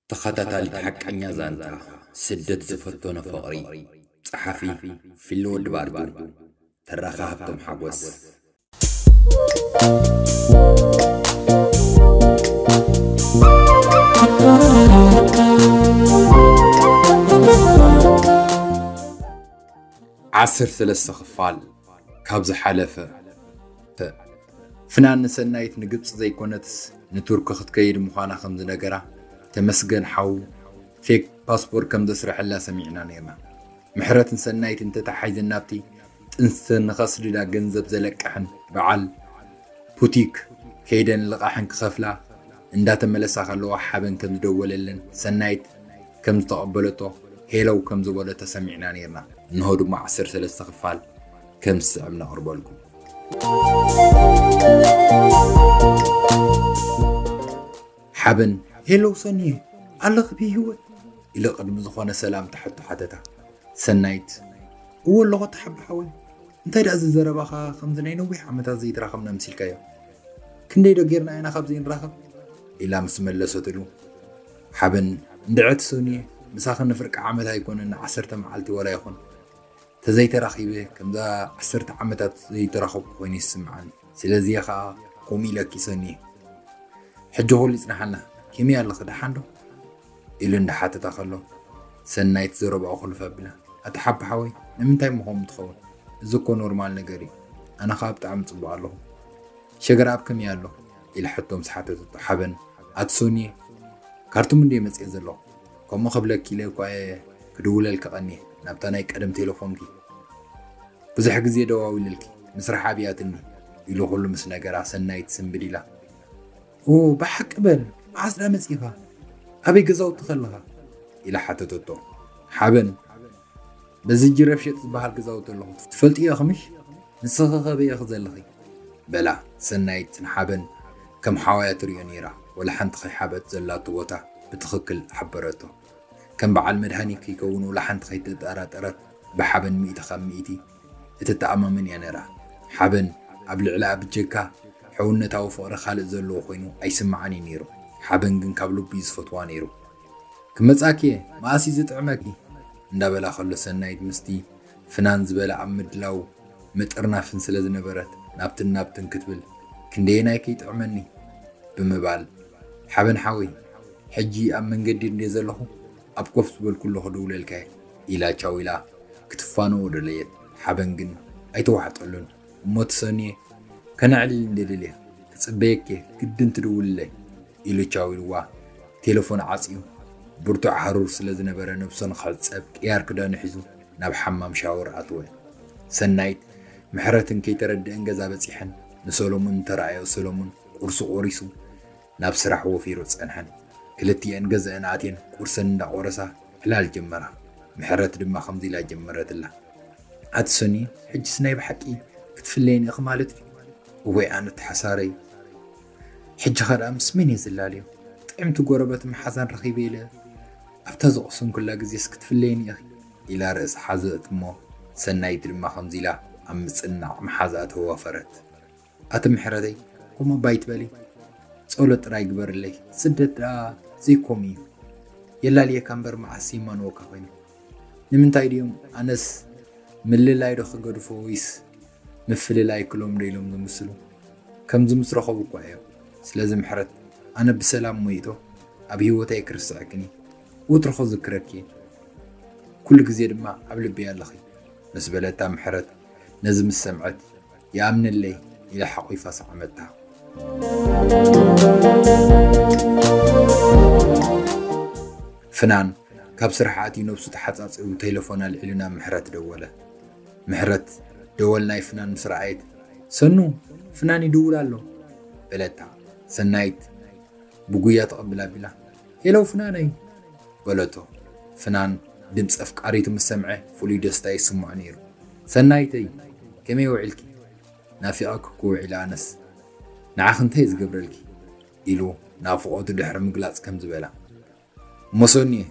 ተኸታታሊት ሓቀኛ ዛንታ ስደት ዝፈተኖ ፍቕሪ ጸሓፊ ፊሊ ወዲ ባርዱ ተራኺ ሃብቶም ሓጎስ። ዓሰርተ ሰለስተ ክፋል ካብ ዝሓለፈ። ፍናን ንሰናይት ንግብጺ ዘይኮነትስ ንቱርኪ ክትከይድ ምዃና ከም ዝነገራ ተመስገን ሓው ፌክ ፓስፖርት ከም ዘስረሐላ ሰሚዕና ኔርና። ምሕረት ንሰናይት እንተተሓሒዘን ናብቲ ጥንሲ ንኸስድዳ ገንዘብ ዘለቀሐን በዓል ፑቲክ ከይደን ልቓሕን ክኸፍላ እንዳተመለሳ ከለዋ ሓበን ከም ዝደወለለን ሰናይት ከም ዝተቐበለቶ ሄለው ከም ዝበለቶ ሰሚዕና ኔርና። እንሆ ድማ ዓሰርተ ሰለስተ ክፋል። ከም ዝስዕብ ነቕርበልኩም። ሓበን ሄሎ ሰኒየ ኣለኺ ብሂወት ኢለ ቅድሚ ዝኾነ ሰላምታ ሕቶ ሓተታ ሰናይት እዎ ኣለኹ ተሓቢ ሓወይ እንታይ ደኣ እዚ ዘረባኻ ከምዚ ናይ ነዊሕ ዓመታት ዘይተራኸብና ምሲልካዮ ክንደይ ዶ ጌርና ኢና ካብ ዘይንራኸብ ኢላ ምስ መለሰትሉ ሓበን እንድዐት ሰኒየ ምሳኺ ንፍርቂ ዓመት ኣይኮነን ዓሰርተ መዓልቲ ወላ ይኹን ተዘይተራኺበ ከምዛ ዓሰርተ ዓመታት ዘይተራኸብኩ ኮይነ ይስምዓኒ ስለዚየ ከኣ ከምኡ ኢለ ኪሰኒየ ሕጂ ኩሉ ይጽናሓልና ከመይ ኣለኺ ደሓን ዶ ኢሉ እንዳሓተታ ከሎ ሰናይት ዘረባኡ ክልፍ ኣቢላ ኣቲ ሓቢ ሓወይ ንምንታይ እሞ ከምኡ ትኸውን እዚ እኮ ኖርማል ነገር እዩ ኣነ ከዓ ብጣዕሚ ፅቡቅ ኣለኹ ሸገር ኣብ ከመይ ኣሎ ኢለ ሕቶ ምስ ሓተተቶ ሓበን ኣቲ ሶኒየ ካርቱም እንደ መፅኤ ዘለኹ ከምኡ ክብለኪ ኢለ እኳ እየ ክድውለልኪ ቀንየ ናብታ ናይ ቀደም ቴለፎንኪ። ብዙሕ ግዜ ደዋዊለልኪ ምስራሕ ኣብያትኒ ኢሉ ኩሉ ምስ ነገራ ሰናይት ስንብድ ኢላ። ኦው ብሓቂ በል መዓስ ድኣ መጺእካ ኣበይ ገዛውቲ ከለኻ? ኢላ ሓተተቶ። ሓበን በዚ ጅረፍሸጥ ዝበሃል ክጻወት ኣለኹ ትፈልጥዮ ኢኽምሽ ንስኺ ከ በይ ኢኺ ዘለኺ በላ ሰናይት ንሓበን ከም ሓዋያ ትሪኦ ነይራ ወላ ሓንቲ ከይሓበት ዘላቶ ቦታ ብትኽክል ሓበረቶ ከም በዓል መድሃኒት ከይከውን ወላ ሓንቲ ከይተጠራጠረት ብሓበን ሚእቲ ካብ ሚእቲ እትተኣማመን እያ ነይራ ሓበን ኣብ ልዕሊኣ ብጀካ ሕውነታዊ ፍቕሪ ካልእ ዘለዎ ኮይኑ ኣይስምዓን እዩ ነይሩ ሓበን ግን ካብ ልቡ እዩ ዝፈትዋ ነይሩ ክመጻኪ እየ መኣስ እዩ ዝጥዕመኪ እንዳበላ ከሎ ሰናይት ምስቲ ፍናን ዝበለ ኣብ ምድላው ምጥርናፍን ስለ ዝነበረት ናብትን ናብትን ክትብል ክንደየናይ ከይጥዕመኒ ብምባል ሓበን ሓወይ ሕጂ ኣብ መንገዲ እንድየ ዘለኹ ኣብ ኮፍ ዝበልኩሉ ክድውለልካ እየ ኢላ ቻው ኢላ ክትፋነዎ ደለየት ሓበን ግን ኣይተዋሕጠሉን እሞ ትሰንየ ከነዕልል እንዴ ደልየ ክጽበየኪ'የ ግድን ትድውልለይ ኢሉ ቻው ኢልዋ ቴለፎን ዓጽዩ። ብርቱዕ ሃሩር ስለ ዝነበረ ነብሶ ንኽሕጸብ ቅያር ክዳኑ ሒዙ ናብ ሓማም ሻወር ኣትወ። ሰናይት፣ ምሕረትን ከይተረድኤን ገዛ በጺሐን ንሰለሙን እንተረኣዮ ሰለሙን ቁርሲ ቆሪሱ ናብ ስራሕ ወፊሩ ጸንሐን። ክልቲኤን ገዘኣን ኣትየን ቁርሰን እንዳቆረሳ ዕላል ጀመራ። ምሕረት ድማ ከምዚ ኢላ ጀመረትላ። ኣቲ ሰኒ ሕጅስ ናይ ብሓቂ ክትፍለየኒ ኢኺ ማለት ድዩ? እዋይ ኣነቲ ሓሳረይ ሕጂኸ ደኣ ምስ መን እየ ዝላለዮ? ጥዕምቲ ጎረበት መሓዛን ረኺበ ኢለ ኣብታ ዝቐሰንኩላ ግዜስ ክትፍለየኒ ኢኺ? ኢላ ርእሳ ሓዘት እሞ ሰናይት ድማ ከምዚ ኢላ ኣብ ምጽንናዕ መሓዝኣ ተዋፈረት። ኣቲ ምሕረተይ ከምኡ እባ ኣይትበሊ ጸሎት ጥራይ ግበርለይ ስደት ደኣ ዘይኮም እዩ የላልየካ እምበር መዓስ ይማንወካ ኮይኑ ንምንታይ ድዮም ኣነስ ምልላይ ዶ ክገድፎ ወይስ ምፍልላይ ክሎም ዶ ኢሎም ዝምስሉ ከምዚ ምስ ረኸቡ እኳ እዮም ስለዚ ምሕረት ኣነ ብሰላም ሞይቶ ኣብ ህይወተይ ክርስዕክን እዩ ወትሩ ክዝክረኪ እዩ ኩሉ ግዜ ድማ ኣብ ልበይ ኣለኺ ምስ በለታ ምሕረት ነዚ ምስ ሰምዐት ይኣምነለይ ኢላ ሓቝፋ ሰዓመታ። ፍናን ካብ ስራሕ ኣትዩ ነብሱ ተሓጻጺቡ ቴለፎን ኣልዒሉ ናብ ምሕረት ደወለ። ምሕረት ደወል ናይ ፍናን ምስ ረኣየት ሰኑ ፍናን ይድውል ኣሎ በለታ። ሰናይት ብጉያ ተቐብል ኣቢላ ሄሎ ፍናነይ! በለቶ። ፍናን ድምጺ ኣፍቃሪቱ ምስ ሰምዐ ፍሉይ ደስታ ይስምዖ ነይሩ። ሰናይተይ! ከመይ ውዒልኪ? ናፊቐኪ እኮ ውዒለ ኣነስ። ንዓኺ እንታይ ዝገብረልኪ? ኢሉ ናፍቖቱ ድሕሪ ምግላጽ ከምዚ በላ። እሞ ሰኑየ!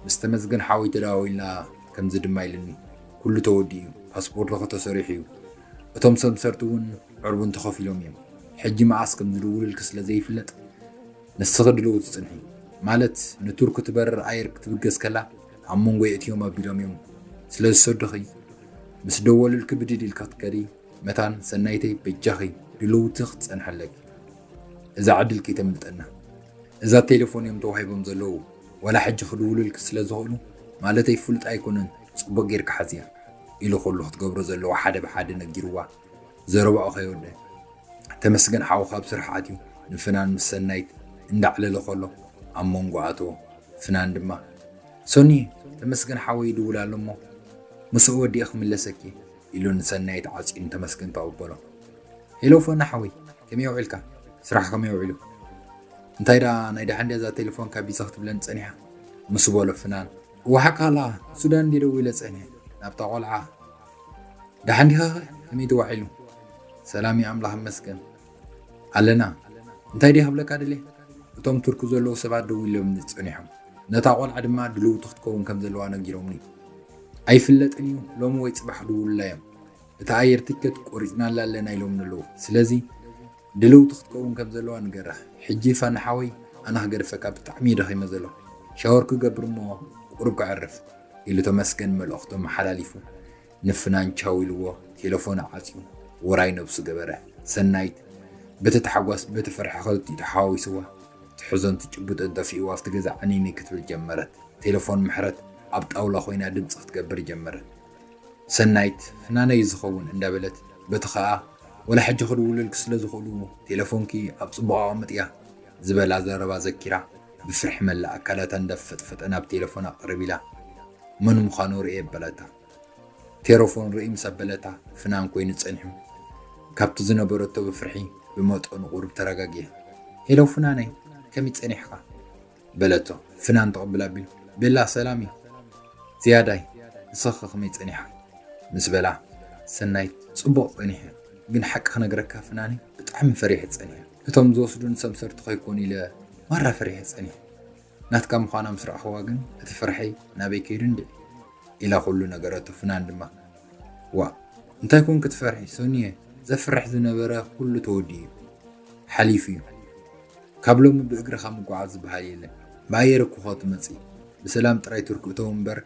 ምስ ተመስገን ሓወይ ተደዋዊልና ከምዚ ድማ ኢሉኒ። ኩሉ ተወዲኡ'ዩ፣ ፓስፖርትኺ ተሰሪሑ'ዩ፣ እቶም ሰምሰርቲ እውን ዕርቡን ተኸፊሎም'ዮም። ሕጂ መኣስ ከም ዝድውልልኪ ስለ ዘይፍለጥ ንስኺ ድልውቲ ጽንሒ ማለት ንቱርኪ ትበርር ኣየር ክትብገስ ከላ ኣብ መንጎ የእትዮም ኣቢሎም እዮም ስለ ዝሰዱኺ ምስ ደወሉልኪ ብድድ ኢልኪ ክትከዲ መታን ሰናይተይ በጃኺ ድልውቲ ክትጸንሒ ኣለኪ እዛ ዕድል ከይተምልጠና እዛ ቴሌፎን እዮም ተዋሂቦም ዘለዉ ወላ ሕጂ ክድውሉልኪ ስለ ዝኽእሉ ማለተይ ፍሉጥ ኣይኮነን ጽቡቕ ጌርካ ሓዝያ ኢሉ ኩሉ ክትገብሮ ዘለዎ ሓደ ብሓደ ነጊርዋ ዘረባኡ ከይወደእ ተመስገን ሓውካ ኣብ ስራሕ ኣትዩ ንፍናን ምስ ሰናይት እንዳዕለለ ከሎ ኣብ መንጎ ኣተዎ። ፍናን ድማ ሰኑየ ተመስገን ሓወይ ይድውል ኣሎ እሞ ምስኡ ወዲኤ ክምለሰኪ እየ ኢሉ ንሰናይት ዓፅዩ ንተመስገን ተቐበሎ። ሄሎ ፈና ሓወይ ከመይ ውዒልካ? ስራሕ ከመይ ውዒሉ? እንታይ ደኣ ናይ ደሓን ድያ እዛ ቴሌፎንካ ቢዘ ክትብለኒ ፀኒሓ ምስ በሎ ፍናን እወ ሓቅኻ ኣለኻ ሱዳን እንድየ ደዊለ ፀኒሐ ናብታ ቆልዓ ደሓን ዲኻ ከ ከመይ ተዋዒሉ ሰላም እዩ ኣምላኽ ይመስገን ኣለና እንታይ ድየ ክብለካ ድልየ እቶም ቱርኪ ዘለዉ ሰባት ደው ኢሎምኒ ጸኒሖም ነታ ቆልዓ ድማ ድልውቲ ክትከውን ከም ዘለዋ ነጊሮምኒ ኣይፍለጥን እዩ ሎሚ ወይ ጽባሕ ድውሉላ እዮም እታ ኣየር ትኬት ቆሪጽናላ ኣለና ኢሎምኒ ኣለዉ ስለዚ ድልውቲ ክትከውን ከም ዘለዋ ንገራ ሕጂ ፋኒ ሓወይ ኣነ ክገድፈካ ብጣዕሚ እዩ ደኺመ ዘለኹ ሻወር ክገብር እሞ ቁሩብ ከዕርፍ ኢሉ ተመስገን መልእኽቱ ኣመሓላሊፉ ንፍናን ቻው ኢልዎ ቴለፎኑ ዓጽዩ ውራይ ነብሱ ገበረ ሰናይት በቲ ታሕጓስ በቲ ፍርሒ ክልቲኡ ተሓዋዊስዋ ትሕዞን ትጭብጦን ጠፊእዋ ኣብቲ ገዛ ዕንይንይ ክትብል ጀመረት ቴለፎን ምሕረት ኣብ ጣውላ ኮይና ድምጺ ክትገብር ጀመረት ሰናይት ፍናነይ ዝኸውን እንዳበለት በቲ ከኣ ወላ ሕጂ ክድውልልኪ ስለ ዝኽእሉ ቴለፎንኪ ኣብ ጽቡቕ ኣቐምጥያ ዝበላ ዘረባ ዘኪራ ብፍርሒ መላእ ኣካላታ እንዳፈጥፈጠ ናብ ቴለፎን ኣቐርብ ኢላ መን ምዃኑ ርእየ በለታ ቴሮፎን ርእይ ምስ ኣበለታ ፍናን ኮይኑ ጸኒሑ ካብቲ ዝነበረቶ ብፍርሒ ብመጠኑ ቁሩብ ተረጋጊኣ ሄሎ ፍናነይ ከመይ ጸኒሕካ በለቶ ፍናን ትቕብል ኣቢሉ። ቤላ ሰላም እዩ ዝያዳይ ንስኺኸ ከመይ ጸኒሓ? ምስ በላ ሰናይት ጽቡቕ ጸኒሐ ግን ሓቂ ክነግረካ ፍናነይ ብጣዕሚ ፈሪሐ ጸኒሐ እቶም ዝወስዱኒ ሰምሰርቲ ከይኮኑ ኢለ ማራ ፈሪሐ ጸኒሐ ናትካ ምዃና ምስ ረኣኹዋ ግን እቲ ፍርሐይ ናበይ ከይዱ እንድዒ ኢላ ኩሉ ነገረቶ ፍናን ድማ ዋእ እንታይ ኮን ክትፈርሒ ሰኑየ ዘፍርሕ ዝነበረ ኩሉ ተወዲኡ እዩ ሓሊፉ እዩ ካብ ሎሚ ብእግርኻ ምጉዓዝ ዝበሃል የለን ብኣየር እኮ ትመፅኢ ብሰላም ጥራይ ቱርክ እተው እምበር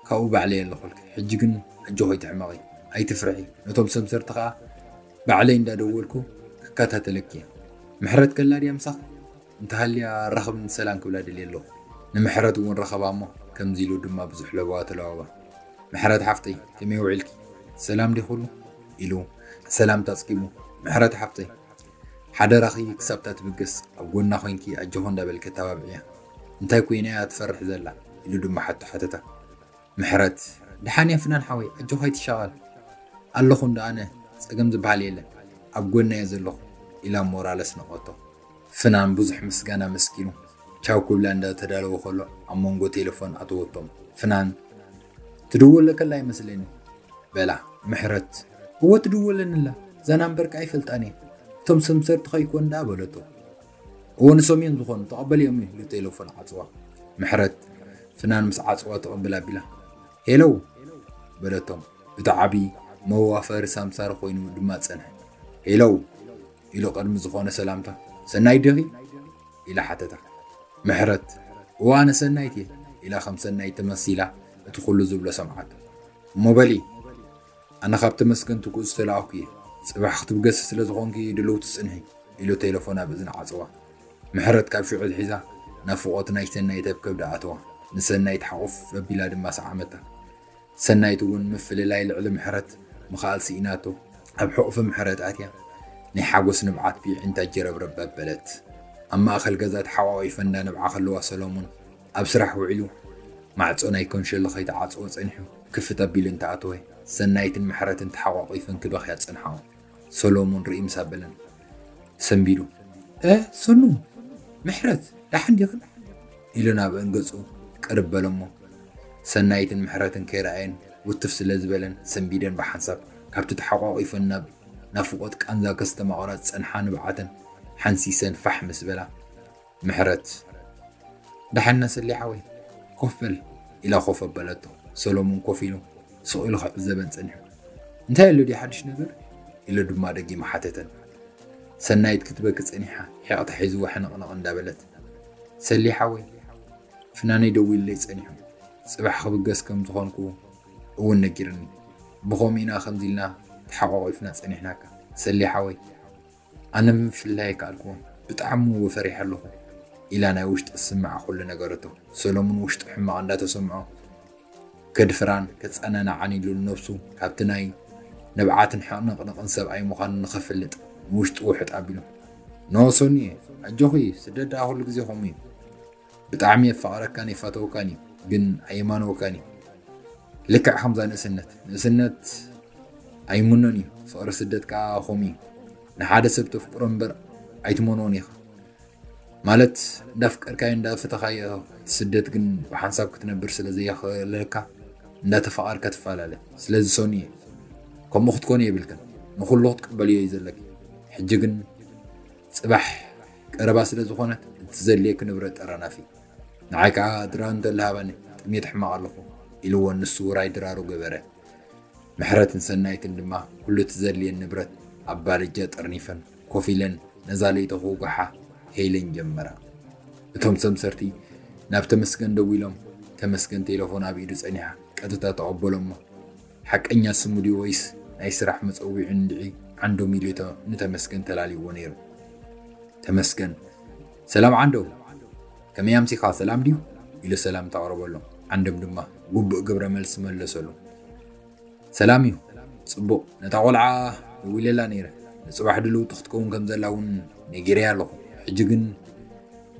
ካብኡ ባዕለይ ኣለኹልኪ ሕጂ ግን ኣጆኺ ትሕመቒ ኣይትፍርሒ ነቶም ሰምሰርቲ ከዓ ባዕለይ እንዳደወልኩ ክከታተለኪ እየ ምሕረት ከላ ድያ ምሳኺ እንተሃልያ ራኽብኒ ሰላም ክብላ ደልየ ኣለኹ ንምሕረት እውን ረኸባ እሞ ከምዚ ኢሉ ድማ ብዙሕ ለበዋ ተለዋወባ ምሕረት ሓፍተይ ከመይ ውዒልኪ ሰላም ዲዩ ኩሉ ኢሉ ሰላምታ ኣጽጊቡ ምሕረት ሓፍተይ ሓደራኺ ክሳብ እታ ትብገስ ኣብ ጎና ኮይንኪ ኣጆኺ እንዳበልኪ ኣተባብዕያ እንታይ ኮይና እያ ትፈርሕ ዘላ ኢሉ ድማ ሓቶ ሓተታ ምሕረት ድሓን እያ ፍናን ሓወይ ኣጆካ ኣይትሻቀል ኣለኩ እንዶ ኣነ ጸገም ዝብሃል የለን ኣብ ጎና እየ ዘለኩ ኢላ ሞራል ኣስነቀቶ። ፍናን ብዙሕ ምስጋና ኣመስጊኑ ቻው ክብላ እንዳ ተዳለወ ከሎ ኣብ መንጎ ቴለፎን ኣተወቶም ፍናን ትድወለከላ ይመስለኒ በላ ምሕረት እወ ትድወለኒ ኣላ እዛ ናምበርካ ኣይፈልጣን እየ እቶም ሰምሰርቲ ከይኮኑ ደኣ በለቶ። እወ ንሶም እዮም ዝኾኑ ተቐበልኦም ኢሉ ቴለፎን ዓጽዋ። ምሕረት ፍናን ምስ ዓጽዋ ትቕብል ኣቢላ ሄሎ በለቶም እቲ ዓቢ መዋፈሪ ሳምሳር ኮይኑ ድማ ጸንሐ። ሄሎ ኢሉ ቅድሚ ዝኾነ ሰላምታ ሰናይት ዲኺ ኢላ ሓተታ። ምሕረት እወ ኣነ ሰናይት እየ ኢላ ከም ሰናይት ተመሲላ እቲ ኩሉ ዝብሎ ሰምዓቶ። እሞ በሊ ኣነ ካብ ተመስገን ትኩእ ዝተላኣኩ እየ ፅባሕ ክትብገሲ ስለ ዝኮንኪ ድልውቲ ፅንሒ ኢሉ ቴለፎን ኣብ እዝና ዓፀዋ ምሕረት ካብ ሽዑ ኣትሒዛ ናፍቆት ናይ ሰናይት ኣብ ከብዳ ኣተዋ ንሰናይት ሓቁፍ ኣቢላ ድማ ሰዓመታ ሰናይት እውን ምፍልላይ ልዕሊ ምሕረት ምክኣል ስኢናቶ ኣብ ሕቁፊ ምሕረት ኣትያ ናይ ሓጎስ ንብዓት ብይዒንታ ጀረብረብ ኣበለት ኣብ ማእከል ገዛ ተሓቋቂፈን እንዳነብዓ ከለዋ ሰለሙን ኣብ ስራሕ ውዒሉ ማዕጾ ናይ ኮንሸሎ ከይተዓጽወ ጸኒሑ ክፍት ኣቢሉ እንተኣተወ ሰናይትን ምሕረትን ተሓቋቊፈን ክበኽያ ጸንሓኦ። ሰሎሙን ርእይ ምስ ኣበለን ሰንቢዱ እህ ሰኑ ምሕረት ደሓን ዲኽን? ኢሉ ናብእን ገጹ ቅርብ በለ'ሞ ሰናይትን ምሕረትን ከይረኣየን ውትፍ ስለ ዝበለን ሰንቢደን ብሓንሳብ ካብቲ ተሓቋቊፈን ናብ ናፍቖት ቃንዛ ከስተማቕራ ዝጸንሓ ንብዓተን ሓንሲሰን ፋሕ ምስ በላ ምሕረት፣ ደሓን ነስሊ ሓወይ፣ ኮፍ በል ኢላ ኮፍ ኣበለቶ። ሰሎሙን ኮፍ ኢሉ ስቕ ኢሉ ክዕዘበን ጸኒሑ። እንታይ ኣሎ ድዩ ሓድሽ ነገር? ኢሉ ድማ ደጊሙ ሓተተን። ሰናይት ክትበኪ ጸኒሓ ሒቕታ ሒዝዋ ሕንቕንቕ እንዳበለት፣ ሰሊ ሓወይ፣ ፍናነይ ደዊሉለይ ጸኒሑ፣ ጽባሕ ክብገስ ከም ዝኾንኩ እውን ነጊሩኒ። ብኸምኡ ኢና ከምዚ ኢልና ተሓቋቒፍና ጸኒሕናካ ሰሊ ሓወይ። ኣነ ምፍልላይ ኣይከኣልኩዎን ብጣዕሚ እወ ፈሪሐ ኣለኹ ኢላ ናይ ውሽጣ ዝስምዓ ኩሉ ነገረቶ። ሰለሙን ውሽጡ ሕማቕ እንዳተሰምዖ ከድፍራን ከጸናንዓን ኢሉ ንነብሱ ካብቲ ናይ ንብዓትን ሕቕንቕንቕን ሰብኣይ ምዃኑ ንኸፍልጥ ንውሽጡ ውሕጥ ኣቢሉ ኖ ሶንየ ኣጆኺ ስደት ደኣ ኩሉ ግዜ ከምኡ እዩ ብጣዕሚ የፋቅረካን ይፋተወካን እዩ ግን ኣየማንወካን እዩ ልክዕ ከምዛ ንእስነት ንእስነት ኣይምኖን እዩ ፍቅሪ ስደት ከዓ ከምኡ እዩ ንሓደ ሰብ ተፍቅሮ እምበር ኣይትመንዎን ኢኻ ማለት እንዳፍቀርካዮ እንዳፈተኻዮ ስደት ግን ብሓንሳብ ክትነብር ስለ ዘየኽእለካ እንዳተፈቓርካ ትፈላለ ስለዚ ሰኑ እየ ከምኡ ክትኮኑ የብልክን ንኩሉ ክትቅበልዮ እዩ ዘለኪ ሕጂ ግን ጽባሕ ቀረባ ስለ ዝኾነት እትዘልየኪ ንብረት ጠራናፊ። ንዓይ ከኣ ድራር እንተ ልሃባኒ ጥምየት ሕማቕ ኣለኹ ኢልዎ ንሱ ውራይ ድራሩ ገበረ። ምሕረትን ሰናይትን ድማ ኩሉ እትዘልየን ንብረት ኣብ ባልጃ ጠርኒፈን ኮፍ ኢለን ነዛ ለይቲ ክውግሓ ሄለን ጀመራ። እቶም ሰምሰርቲ ናብ ተመስገን ደዊሎም ተመስገን ቴለፎን ኣብ ኢዱ ጸኒሓ ቀጥታ ተቐበሎሞ ሓቀኛ ስሙ ድዩ ወይስ ናይ ስራሕ መጸዊዑ እንድዒ ዓንዶም ኢሉ'ቶ ንተመስገን ተላልይዎ ነይሩ። ተመስገን ሰላም ዓንዶም ከመይ ኣምሲኻ ሰላም ድዩ? ኢሉ ሰላምታ ኣቕረበሎም። ዓንዶም ድማ ግቡእ ግብረ መልሲ መለሰሉ። ሰላም እዩ ጽቡቕ ነታ ቆልዓ ደዊለላ ነይረ ንጽባሕ ድልውቲ ክትከውን ከም ዘላ እውን ነጊረያ ኣለኹ ሕጂ ግን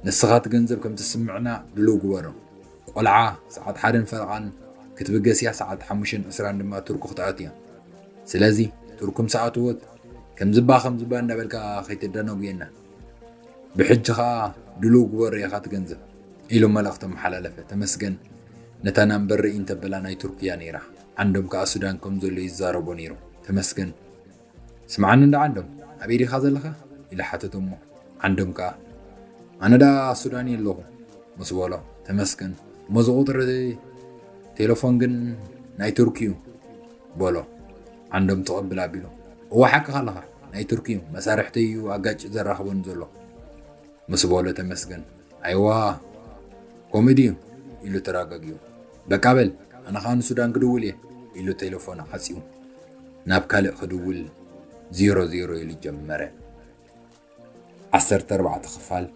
ንስኻ እቲ ገንዘብ ከም ትስምዕና ድልው ግበሮ ቆልዓ ሰዓት ሓደን ፈረቓን ክትብገስ እያ ሰዓት ሓሙሽተን ዕስራን ድማ ቱርኩ ክትኣቱ እያ ስለዚ ቱርኩ ምስ ኣተወት ከምዝባ ከምዝባ እንዳበልካ ከይተደናጉየና ብሕጂ ከዓ ድልው ግበሮ ኢኻ ትገንዘብ ኢሉ መልእኽቲ ኣመሓላለፈ ተመስገን ነታ ናምበር ርኢ እንተበላ ናይ ቱርክ እያ ነይራ ዓንዶም ከዓ ሱዳን ከም ዘሎ ይዛረቦ ነይሩ ተመስገን ስምዓኒ እንዳ ዓንዶም ኣበይ ዲኻ ዘለኻ ኢሉ ሓተቶ'ሞ ዓንዶም ከኣ ኣነ ደኣ ኣብ ሱዳን እየ ኣለኹ ምስ በሎ ተመስገን እሞ እዚ ቁጽሪ ቴለፎን ግን ናይ ቱርኪ'ዩ በሎ ዓንዶም ትቕብል ኣቢሉ እወ ሓቅኻ ኣለኻ ናይ ቱርኪ'ዩ መሳርሕተይ'ዩ ኣጋጭ ዘራኽበኒ ዘሎ ምስ በሎ ተመስገን ኣይዋ ከምኡ ድዩ ኢሉ ተረጋጊኡ በቃ በል ኣነ ኸኣ ንሱዳን ክድውል እየ ኢሉ ቴለፎን ዓጽዩ ናብ ካልእ ክድውል ዜሮ ዜሮ ኢሉ ጀመረ። ዓሰርተ ኣርባዕተ ክፋል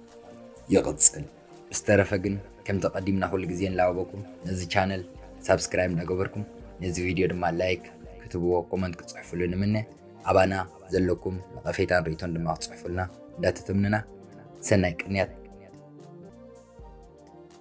ይቕጽል። ብዝተረፈ ግን ከምቲ ቀዲምና ኩሉ ግዜ ንላበበኩም ነዚ ቻነል ሳብስክራይብ እንዳገበርኩም ነዚ ቪድዮ ድማ ላይክ ክትብዎ ኮመንት ክጽሕፍሉ ንምነ ኣባና ዘለኩም ነቐፌታን ርእቶን ድማ ክጽሕፉልና እንዳተተምንና ሰናይ ቅንያት